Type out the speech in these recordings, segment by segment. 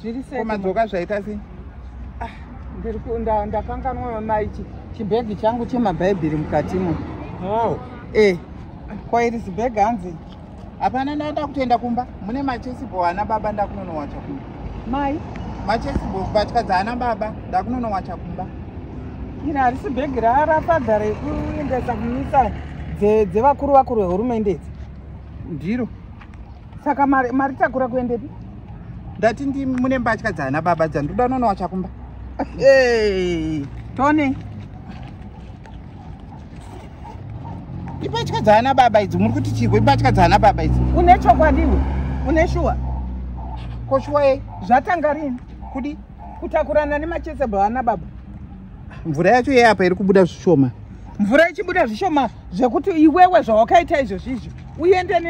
zviri sei komadzoka zvaita sei ah, ndiri kunda ndakanganwa mai chibhegi changu chemabhaibheri mukatimo oh. eh kwairi zibhegi hanzi hapana ndaenda kutoenda kumba mune machesibo ana baba ndakunonowacha kumba mai machesibo kubatya dzaana baba ndakunonowacha kumba iri harisi bhegi rarafadza rekuendesa kumisa dzevakuru vakuru vehurumende idzi ndiro saka mari mari takura kuendepi ndati ndi mune mbatya dzana baba dzandoda unoona wachakumba tone imbatya dzana baba idzi muri kuti chirwe imbatya dzana baba idzi une chokwadi iwe une shuwa ko shuwa yei zvatanga rini kudi kutakurana nemachesable ana baba mvura yacho iye apa iri kubuda zvishoma mvura ichibuda zvishoma zvekuti iwewe zvawakaita izvozvizvo uende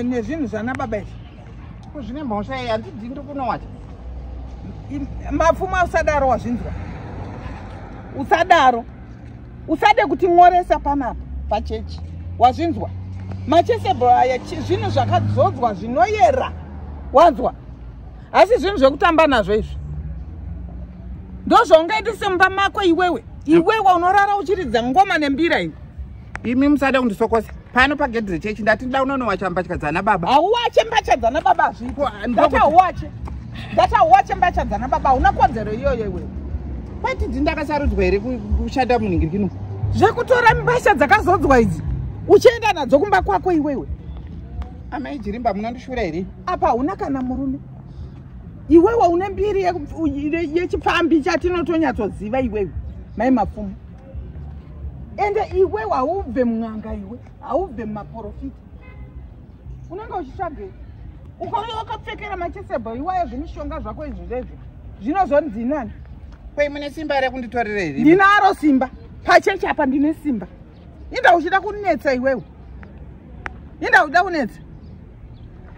nezvinhu zvana baba izvi kuzvine mhosva iye handidi ndi kunowata mapfuma usadaro wazvinzwa usadaro usade kuti nworesa panapa pachechi wazvinzwa machesable aya zvinhu zvakadzodzwa zvinoyera wanzwa asi zvinhu zvekutamba nazvo izvi ndozvaungaite semumba mako iwewe iwewe unorara uchiridza ngoma nembira iwe imi musada kundisokosa pano pagedhi rechechi ndati nda unonowacha mbatya dzana baba hauwache mbatya dzana baba hazvipo ndati hauwache ndati hauwache mbatya dzana baba hauna kodzero iyoyo iwewe kwati dzi ndakasarudzwa here kushanda munhingirikino zvekutora mbasha dzakazodzwa idzi uchienda nadzo kumba kwako iwewe amai jirimba munondishura here apa hauna kana murume iwewe une mbiri yechipfambi chatinotonyatsoziva iwewe mai mapfumo ende iwewe haubve mun'anga iwe haubve mumaprofita unenge uchitsvagei ukauya wakapfekera machisebho iwaya zvemishonga zvako izvi zvezvi zvinozonzi nani kwei mune simba rekunditorera here ndinaro simba pachechi apa ndine simba inda uchida kunetsa iwewe inda uchida kunetsa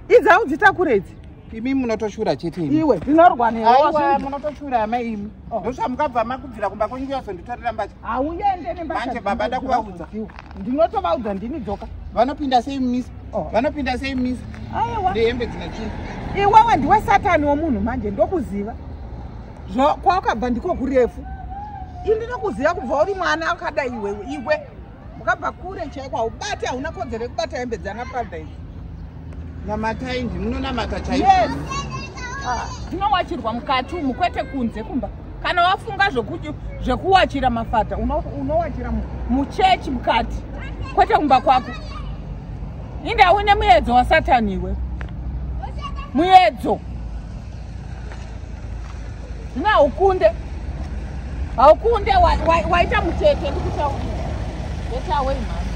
idzi audzitakure idzi imi munotoshura chete imi iwe ndinorwa newe munotoshura ama imi oh. ndosva mukabva makubvira kumba kwenyu kuyazonditorera mbatya hauende nembamanje baba ndakuvaudza ndinotovaudza ndini dzoka vanopinda sei mumisa oh. vanopinda sei mumisa nehembe dzine chinhu iwewe ndiwe satani womunhu manje ndokuziva kwawakabva ndiko kurefu ini ndinokuziva kubva uri mwana akadai iwe iwe ukabva kure chaiko haubate hauna kodzero yekubata hembe dzana prada izi namatai ndi munonamata chaiko yes ah, ndinowachirwa mukati umu kwete kunze kumba kana wafunga zvekuwachira mafata unowachira muchechi mukati kwete kumba kwako indaune muyedzo wasatani iwe muyedzo zvino haukunde haukunde waita mutete ndikutaurira getaway mhani